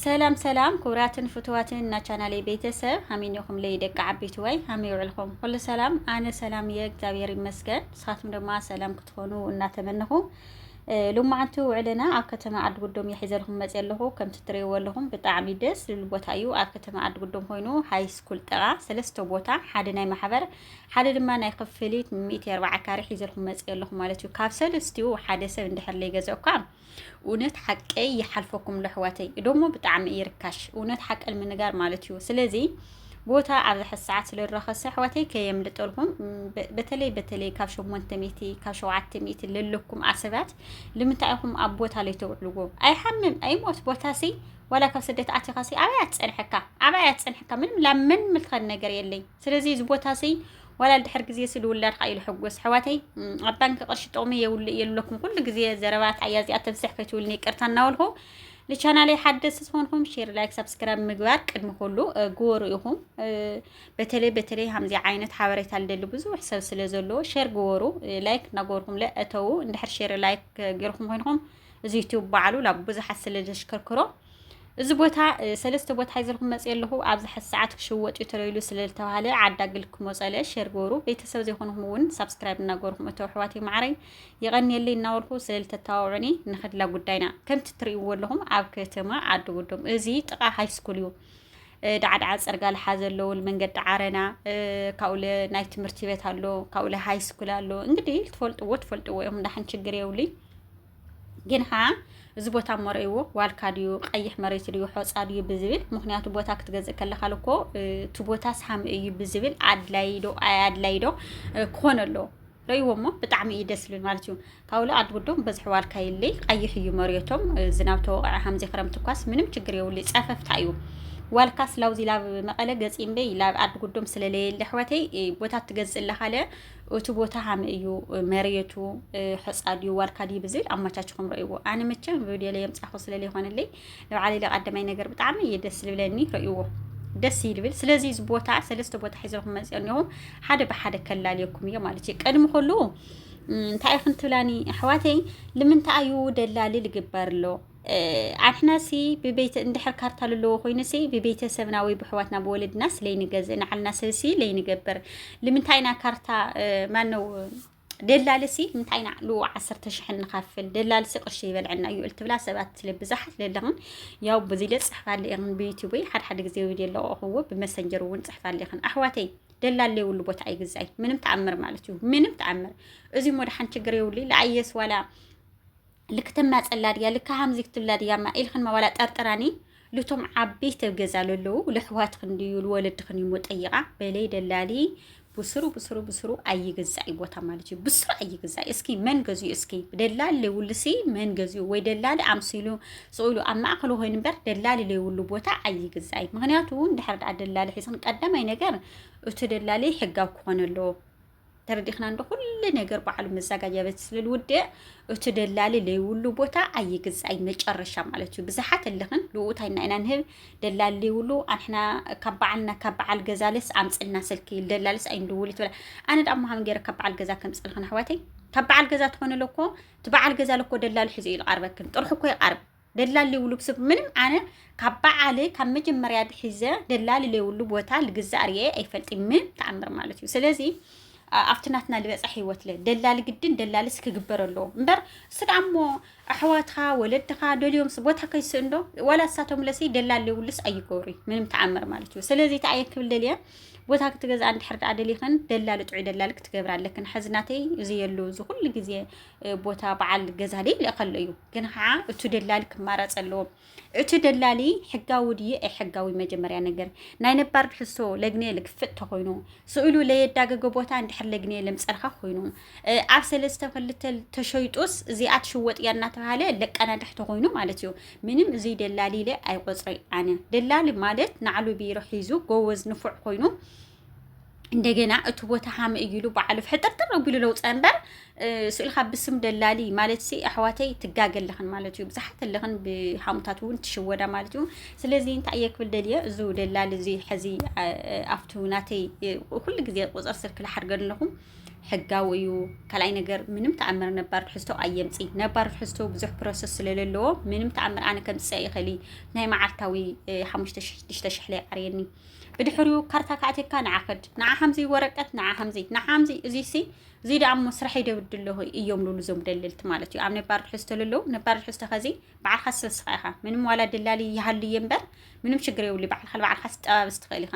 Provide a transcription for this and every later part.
ሰላም ሰላም ኩብራትን ፍትዋትን ናቻናለይ ቤተሰብ ሃሚኒኹም ለይ ደቂ ዓቢት ወይ ሃሚ ውዕልኹም ኩሉ ሰላም ኣነ ሰላም እየ እግዚኣብሔር ይመስገን ንስኻትኩም ድማ ሰላም ክትኾኑ እናተመንኹ ሎማዓንቲ ውዕልና ኣብ ከተማ ዓዲ ጉዶም እየ ሒዘልኩም መፅየ ኣለኹ ከምቲ ትሪእዎ ኣለኹም ብጣዕሚ ደስ ዝብል ቦታ እዩ ኣብ ከተማ ዓዲ ጉዶም ኮይኑ ሃይ ስኩል ጠቓ ሰለስተ ቦታ ሓደ ናይ ማሕበር ሓደ ድማ ናይ ክፍሊት ሚእቲ ኣርባዓ ካሬ ሒዘልኩም መፅየ ኣለኹ ማለት እዩ ካብ ሰለስቲኡ ሓደ ሰብ እንድሕር ለይገዘእኳ እውነት ሓቀይ ይሓልፈኩም ለሕዋተይ እዶሞ ብጣዕሚ እዩ ርካሽ እውነት ሓቀል ምንጋር ማለት እዩ ስለዚ ቦታ ኣብዚ ሕዚ ሰዓት ስለረኸሰ ኣሕዋተይ ከየምልጠልኩም በተለይ በተለይ ካብ ሸሞንተ ሚእቲ ካብ ሸውዓተ ሚእቲ ለለኩም ኣሰባት ልምንታይ ኢኹም ኣብ ቦታ ለይተውዕልዎ ኣይሓምም ኣይሞት ቦታ ሲ ዋላ ካብ ስደት ኣቲኻ ሲ ኣበይ ኣትፀንሐካ ኣበይ ኣትፀንሐካ ምንም ላመን ምልኸን ነገር የለይ ስለዚ እዚ ቦታ ሲ ዋላ ድሕር ግዜ ስዲ ውላድ ኻኢሉ ሕጎስ ሕዋተይ ኣብ ባንክ ቅርሺ ጥቕሚ የውልእ የለኩም ኩሉ ግዜ ዘረባት ኣያዚኣ ተንስሕ ከይትውልኒ ቅርታ እናወልኹ ንቻናለይ ሓደስ ዝኾንኩም ሼር ላይክ ሳብስክራይብ ምግባር ቅድሚ ኩሉ ግበሩ ኢኹም። በተለይ በተለይ ከምዚ ዓይነት ሓበሬታ ልደሊ ብዙሕ ሰብ ስለ ዘለዎ ሼር ግበሩ ላይክ እናገበርኩም ለእተው እንድሕር ሼር ላይክ ጌርኩም ኮይንኩም እዚ ዩቲዩብ ባዕሉ ናብ ብዙሓት ስለ ዘሽከርክሮ እዚ ቦታ ሰለስተ ቦታ ሒዘልኩም መፅ ኣለኹ ኣብዚ ሓዚ ሰዓት ክሽወጥ እዩ ተለይሉ ስለ ዝተባሃለ ዓዳግል ክመፀለ ሸር ገበሩ ቤተሰብ ዘይኮንኩም እውን ሳብስክራይብ እናገበርኩም እቶ ኣሕዋት ይማዕረይ ይቐንየለይ እናበልኩ ስለ ዝተተባብዑኒ ንኸድላ ጉዳይና ከምቲ ትርእይዎ ኣለኹም ኣብ ከተማ ዓዲ ጉዶም እዚ ጥቓ ሃይስኩል እዩ ዳዕዳዓ ፀርጋ ልሓ ዘለዎ መንገዲ ዓረና ካብኡ ናይ ትምህርቲ ቤት ኣሎ ካብኡ ሃይስኩል ኣሎ እንግዲህ ትፈልጥዎ ትፈልጥዎ እዮም እንዳሕን ችግር የብሉይ ግን ከዓ እዚ ቦታ እሞ ረእይዎ ዋልካ ድዩ ቀይሕ መሬት ድዩ ሖፃ ድዩ ብዝብል ምክንያቱ ቦታ ክትገዝእ ከለካ ልኮ እቲ ቦታ ሳሚ እዩ ብዝብል ኣድላይ ዶ ኣድላይ ዶ ክኾነ ኣለዎ ረእይዎ እሞ ብጣዕሚ እዩ ደስ ዝብል ማለት እዩ ካብሉ ኣድ ጉዶም በዝሒ ዋልካ የለይ ቀይሕ እዩ መሬቶም ዝናብ ተወቕዐ ከምዚ ክረምቲ እኳስ ምንም ችግር የብሉ ፀፈፍታ እዩ ዋልካ ስላውዚ ላብ መቐለ ገፂ እምበይ ላብ ኣድ ጉዶም ስለለየለ ኣሕዋተይ ቦታ ትገዝእ ኣለካ ለ እቲ ቦታ ሃመ እዩ መሬቱ ሐፃ ድዩ ዋልካ ድዩ ብዝብል ኣመቻችኹም ረእይዎ ኣነ መቸም ቪድዮ ላይ የምፃኹ ስለለ ይኾነለይ ንባዕለይ ለቀደማይ ነገር ብጣዕሚ እዩ ደስ ዝብለኒ ረእይዎ ደስ ይብል ስለዚ እዚ ቦታ ሰለስተ ቦታ ሒዘልኩም መፅኦ እኒኹ ሓደ ብሓደ ከላልየኩም እዮ ማለት እዩ ቀድሚ ከሉ እንታይ ክንትብላኒ ኣሕዋተይ ልምንታይ እዩ ደላሊ ልግበር ኣሎ ኣሕና ሲ ብቤተ እንድሕር ካርታ ለለዎ ኮይኑ ሲ ብቤተሰብና ወይ ብሕዋትና ብወለድና ስለይ ንገዝእ ንዓልና ሰብሲ ለይ ንገበር ልምንታይና ካርታ ማነው ደላልሲ እንታይ ናዕሉ ዓሰርተ ሽሕ ንኸፍል ደላልሲ ቅርሺ ይበልዐና እዩ እልትብላ ሰባት ስለ ብዛሓት ለለኽን ያው በዚ ለ ፅሕፋለ ኢኽን ብዩቲዩበይ ሓደ ሓደ ግዜ ቪድዮ ለቕኹዎ ብመሰንጀር እውን ፅሕፋለ ኢኽን ኣሕዋተይ ደላል ለይብሉ ቦታ ኣይግዛይ ምንም ተኣምር ማለት እዩ ምንም ተኣምር እዚ ሞድሓን ችግር የብሉ ለኣየስ ዋላ ልክ ትናጸላ ድያ ልክ ሃምዚ ክትብላ ድያ እማ ኢልክን መባላ ጠርጥራኒ ልቶም ዓበይቲ ኣብ ገዛ ለለዉ ለሕዋትክን ድዩ ልወለድክን እዩሞ ጠይቃ በለይ ደላሊ ብስሩ ብስሩ ብስሩ ኣይግዛእ ቦታ ማለት እዩ ብስሩ ኣይግዛእ እስኪ መን ገዝኡ እስኪ ደላሊ ለይብሉሲ መን ገዝኡ ወይ ደላሊ ኣምሲሉ ስኢሉ ኣብ ማእከሉ ኮይኑ እምበር ደላሊ ለይብሉ ቦታ ኣይግዛእ ምክንያቱ እንድሕር ደኣ ደላሊ ሒዝክን ቀዳማይ ነገር እቲ ደላሊ ሕጋዊ ክኾነ ኣለዎ ተረዲኽና እንዶ ኩሉ ነገር በዓሉ መዛጋጃ ቤት ስለልውድእ እቲ ደላሊ ለይብሉ ቦታ ኣይግዛእይ መጨረሻ ማለት እዩ ብዝሓት ኣለኽን ልኡታይ ኢና ኢና ንህብ ደላሊ ለይብሉ ኣንሕና ካብ በዓልና ካብ በዓል ገዛልስ ኣምፅልና ስልኪ ይል ደላልስ ኣይንድውል ትብላ ኣነ ዳ ምሃም ገይረ ካብ በዓል ገዛ ከምፅልኽን ኣሕዋተይ ካብ በዓል ገዛ ትኾነ ለኮ እቲ በዓል ገዛ ለኮ ደላሊ ሒዘ እዩ ዝቐርበክን ጥርሑ እኮ ይቐርብ ደላሊ ውሉብ ስብ ምንም ኣነ ካብ በዓል ካብ መጀመርያ ኣትሒዘ ደላሊ ለይብሉ ቦታ ልግዛእ ርኤ ኣይፈልጥን ምንም ተኣምር ማለት እዩ ስለዚ ኣብቲ ናትና ልበፃሕ ህይወት ለ ደላሊ ግድን ደላልስ ክግበር ኣለዎ እምበር እስ ደኣ እሞ ኣሕዋትካ ወለድካ ደልዮም ቦታ ከይስእንዶ ዋላ እሳቶም ለሲ ደላሊ ለይብሉስ ኣይገብሩ ምንም ተኣምር ማለት እዩ ስለዚ እቲ ኣየ ክብል ደልየ ቦታ ክትገዝኣ እንድሕር ደኣ ደሊኽን ደላሊ ጥዑይ ደላሊ ክትገብር ኣለክን ሕዚ ናተይ እዚ የሉ እዚ ኩሉ ግዜ ቦታ በዓል ገዛ ድዩ ይልእኸሉ እዩ ግን ከዓ እቲ ደላሊ ክማረፅ ኣለዎ እቲ ደላሊ ሕጋዊ ድዩ ኣይሕጋዊ መጀመርያ ነገር ናይ ነባር ትሕዝቶ ለግኔ ልክፍጥ ተኮይኑ ስእሉ ለየዳገገ ቦታ እንድሕር ለግኔ ለምፀልካ ኮይኑ ኣብ ሰለስተ ክልተ ተሸይጡስ እዚኣ ትሽወጥ እያ እናተባሃለ ለቀናድሕ ተኮይኑ ማለት እዩ ምንም እዚ ደላሊ ኢለ ኣይቆፅረ ኣነ ደላሊ ማለት ናዕሉ ቢሮ ሒዙ ጎበዝ ንፉዕ ኮይኑ እንደገና እቲ ቦታ ሃም እዩሉ በዓሉ ሕጥርጥር ኣቢሉ ለውፀ እምበር ስእልካ ብስም ደላሊ ማለት ሲ ኣሕዋተይ ትጋገ ኣለኽን ማለት እዩ ብዙሓት ኣለኽን ብሃሙታት እውን ትሽወዳ ማለት እዩ ስለዚ እንታይ እየ ክብል ደልየ እዚ ደላሊ እዚ ሕዚ ኣብቲ ናተይ ኩሉ ግዜ ቁፅር ስልኪ ልሓድገን ኣለኹ ሕጋዊ እዩ ካልኣይ ነገር ምንም ተኣምር ነባር ትሕዝቶ ኣየምፂ ነባር ትሕዝቶ ብዙሕ ፕሮሰስ ስለለለዎ ምንም ተኣምር ኣነ ከምፅእ ይኽእል ናይ መዓልታዊ ሓሙሽተ ሽዱሽተ ሽሕለይ ዓርየኒ ብድሕሪኡ ካርታ ካዕቲርካ ንዓ ከድ ንዓ ሓምዚ ወረቀት ንዓ ሓምዚ ንዓ ሓምዚ እዚሲ እዚ ደኣ እሞ ስራሐይ ደብድ ኣለኹ እዮም ልብሉ እዞም ደለልቲ ማለት እዩ ኣብ ነባር ድሕዝቶ ለለዉ ነባር ድሕዝቶ ከዚ በዓልካ ስለስኻ ኢኻ ምንም ዋላ ደላሊ ይሃሉ እየ እምበር ምንም ሽግር የብሉ በዓልካ በዓልካ ስጠባብስ ትኽእል ኢኻ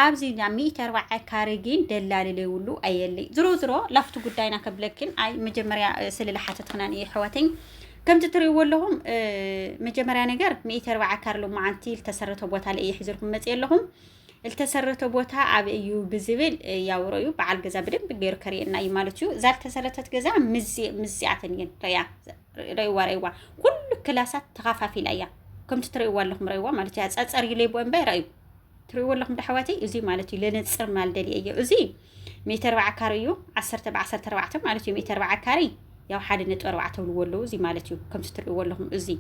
ኣብዚ ናብ ሚእቲ ኣርባዓ ካሬ ግን ደላሊ ለይብሉ ኣየለይ ዝሮ ዝሮ ላፍቱ ጉዳይና ከብለክን ኣይ መጀመርያ ስለ ዝሓተትክናን እየ ሕዋተኝ ከምቲ ትርእይዎ ኣለኹም መጀመርያ ነገር ሚእቲ ኣርባዓ ካር ሎማዓንቲ ዝተሰረተ ቦታ ልእየ ሒዘልኩም መፅእ ኣለኹም ዝተሰረተ ቦታ ኣብ እዩ ብዝብል ያውሮ እዩ በዓል ገዛ ብደንብ ገይሩ ከርእየና እዩ ማለት እዩ እዛ ዝተሰረተት ገዛ ምስዚኣተን እየን ረያ ረይዋ ረይዋ ኩሉ ክላሳት ተኻፋፊላ እያ ከምቲ ትርእይዋ ኣለኹም ረይዋ ማለት እያ ፀፀር እዩ ለይቦ እምበይ ረእዩ ትርእይዎ ኣለኹም ዶ ኣሕዋተይ? እዙይ ማለት እዩ ለነፅር ማል ደልየ እዮ እዙይ ሚእቲ ኣርባዓ ካሪ እዩ ዓሰርተ ብዓሰርተ ኣርባዕተ ማለት እዩ ሚእቲ ኣርባዓ ካሪ ያው ሓደ ነጥቢ ኣርባዕተ ብልዎ ኣለዉ እዙይ ማለት እዩ ከምቲ ትርእይዎ ኣለኹም እዙይ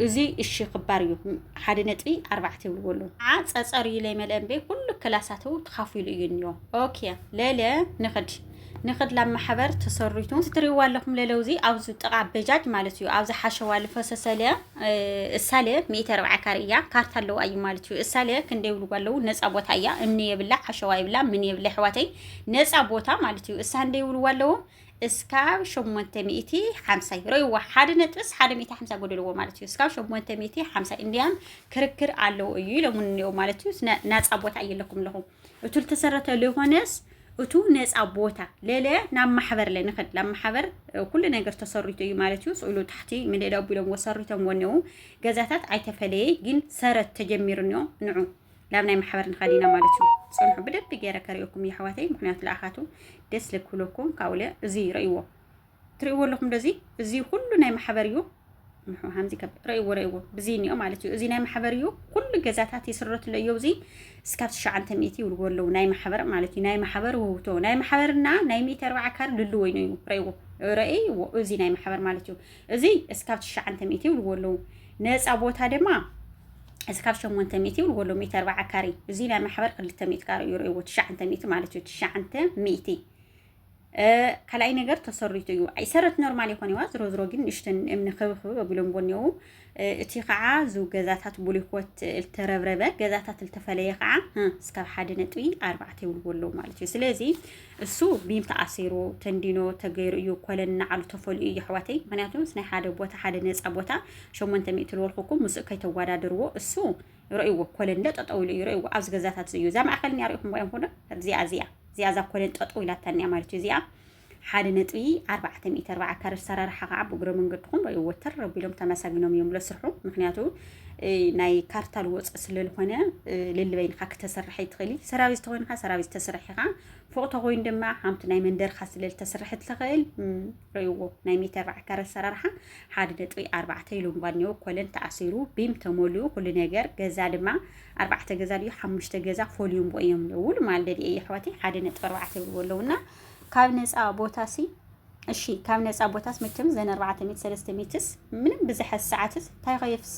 እዙይ እሺ ክባር እዩ ሓደ ነጥቢ ኣርባዕተ ይብልዎ ኣለዉ ዓ ፀፀር እዩ ለይመልአ እምበይ ኩሉ ክላሳት ተኻፊሉ እዩ እኒኦ ኦኬ ለለ ንኽድ ንክላብ ማሕበር ተሰሪቱ እዚ ትሪእዋ ኣለኹም ለለውዚ ኣብዚ ጥቓ በጃጅ ማለት እዩ ኣብዚ ሓሸዋ ልፈሰሰለ እሳለ ሚእቲ ኣርባዓ ካሬ እያ ካርታ ኣለዋ እዩ ማለት እዩ እሳለ ክንደ ይብልዎ ኣለዉ ነፃ ቦታ እያ እምኒ የብላ ሓሸዋ የብላ ምን የብላ ኣሕዋተይ ነፃ ቦታ ማለት እዩ እሳ እንደ ይብልዎ ኣለዉ እስካብ ሸሞንተ ሚእቲ ሓምሳ እዩ ረይዋ ሓደ ነጥብስ ሓደ ሚእቲ ሓምሳ ጎደልዎ ማለት እዩ እስካብ ሸሞንተ ሚእቲ ሓምሳ እንዲያም ክርክር ኣለዉ እዩ ኢሎሙኒ እኒኦ ማለት እዩ ናፃ ቦታ እየለኩም ኣለኹም እቱ ልተሰረተ ለኾነስ እቱ ነፃ ቦታ ለለ ናብ ማሕበር ለንኸድ ናብ ማሕበር ኩሉ ነገር ተሰሪቶ እዩ ማለት እዩ ስእሉ ታሕቲ ምልእለ ኣቢሎም ወሰሪቶም ወነው ገዛታት ኣይተፈለየ ግን ሰረት ተጀሚርንዮ ንዑ ናብ ናይ ማሕበር ንኸድ ኢና ማለት እዩ ፅንሑ ብደቢ ገይረ ከሪኦኩም የሕዋተይ ምክንያቱ ለኣኻቱ ደስ ልክብለኩም ካብኡለ እዚ ይርእይዎ ትርእይዎ ኣለኹም ዶ እዚ እዚ ኩሉ ናይ ማሕበር እዩ ከምዚ ረእይዎ ረእይዎ ብዚ እኒኦ ማለት እዩ እዚ ናይ ማሕበር እዩ ኩሉ ገዛታት ይስረትሎ እዮ እዚ እስካብ ትሽዓንተ ሚእቲ ይብልዎ ኣለዉ ናይ ማሕበር ማለት እዩ ናይ ማሕበር ውህብቶ ናይ ማሕበርና ናይ ሚእቲ ኣርባዓ ካር ልሉ ወይኑ እዩ ረእይዎ ረእይዎ እዚ ናይ ማሕበር ማለት እዩ እዚ እስካብ ትሽዓንተ ሚእቲ ይብልዎ ኣለዉ ነፃ ቦታ ድማ እስካብ ሸሞንተ ሚእቲ ይብልዎ ኣለዉ ሚእቲ ኣርባዓ ካሬ እዚ ናይ ማሕበር ክልተ ሚእቲ ካሬ እዩ ረእይዎ ትሽዓንተ ሚእቲ ማለት እዩ ትሽዓንተ ሚእቲ ካልኣይ ነገር ተሰሪቱ እዩ ኣይሰረት ኖርማል ይኾን ይዋ ዝሮ ዝሮ ግን ንእሽተን እምኒ ክብክብ ኣቢሎምዎ እኒው እቲ ከዓ ዝ ገዛታት ቡሊኮት እልተረብረበ ገዛታት እልተፈለየ ከዓ እስካብ ሓደ ነጥቢ ኣርባዕተ ይብልዎ ኣለዉ ማለት እዩ ስለዚ እሱ ቢም ተኣሲሩ ተንዲኖ ተገይሩ እዩ ኮለን ናዓሉ ተፈልዩ እዩ ኣሕዋተይ ምክንያቱ ምስ ናይ ሓደ ቦታ ሓደ ነፃ ቦታ ሸሞንተ ሚእቲ ልወልኩኩም ምስኡ ከይተወዳደርዎ እሱ ርእይዎ ኮለን እንዶ ጠጠው ኢሉ እዩ ርእይዎ ኣብዚ ገዛታት እዩ እዛ ማእከል እኒኣ ርእኹም እዮም ኩሎ እዚኣ እዚኣ እዚኣ እዛ ኮለን ጠጠው ኢላታ እኒኣ ማለት እዩ እዚኣ ሓደ ነጥቢ ኣርባዕተ ሚእቲ ኣርባዓ ካረ ሰራርሓ ከዓ ብእግረ መንገድኹም ርእይዎ ተር ኣቢሎም ተመሳጊኖም እዮም ለስርሑ ምክንያቱ ናይ ካርታ ልወፅ ስለልኾነ ልልበይንካ ክተሰርሐ ይትኽእል ሰራዊ ዝተኮይንካ ሰራዊ ዝተስርሕ ኢኻ ፎቅ ተኮይኑ ድማ ሓምቲ ናይ መንደርካ ስለልተስርሐ ትኽእል ርእይዎ ናይ ሜተር ራዕከር ኣሰራርሓ ሓደ ነጥቢ ኣርባዕተ ኢሉ እምባ እኒኦ ኮለን ተኣሲሩ ቢም ተመሊኡ ኩሉ ነገር ገዛ ድማ ኣርባዕተ ገዛ ድዩ ሓሙሽተ ገዛ ፈልዩ እምቦ እዮም ንውል ማልደድ እየ ኣሕዋተይ ሓደ ነጥቢ ኣርባዕተ ይብልዎ ኣለውና ካብ ነፃ ቦታ ሲ እሺ ካብ ነፃ ቦታስ መቸም ዘን ኣርባዕተ ሚት ሰለስተ ሚትስ ምንም ብዝሐ ሰዓትስ እንታይ ኸየፍሳ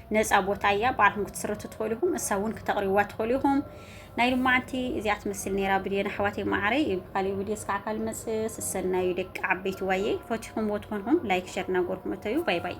ነፃ ቦታ እያ ባዕልኩም ክትስርቱ ትኽእሉ ኢኹም እሳ እውን ክተቕሪብዋ ትኽእሉ ኢኹም ናይ ልማዓንቲ እዚኣ ትመስል ነይራ ብድዮን ኣሕዋተይ ማዕረይ እዩ ብካሊእ ቪድዮ እስካዕ ካልእ መፅ ስሰናዩ ደቂ ዓበይቲ ዋየይ ፈቲኹምዎ ትኾንኹም ላይክ ሸር እናጎርኩም እተዩ ባይ ባይ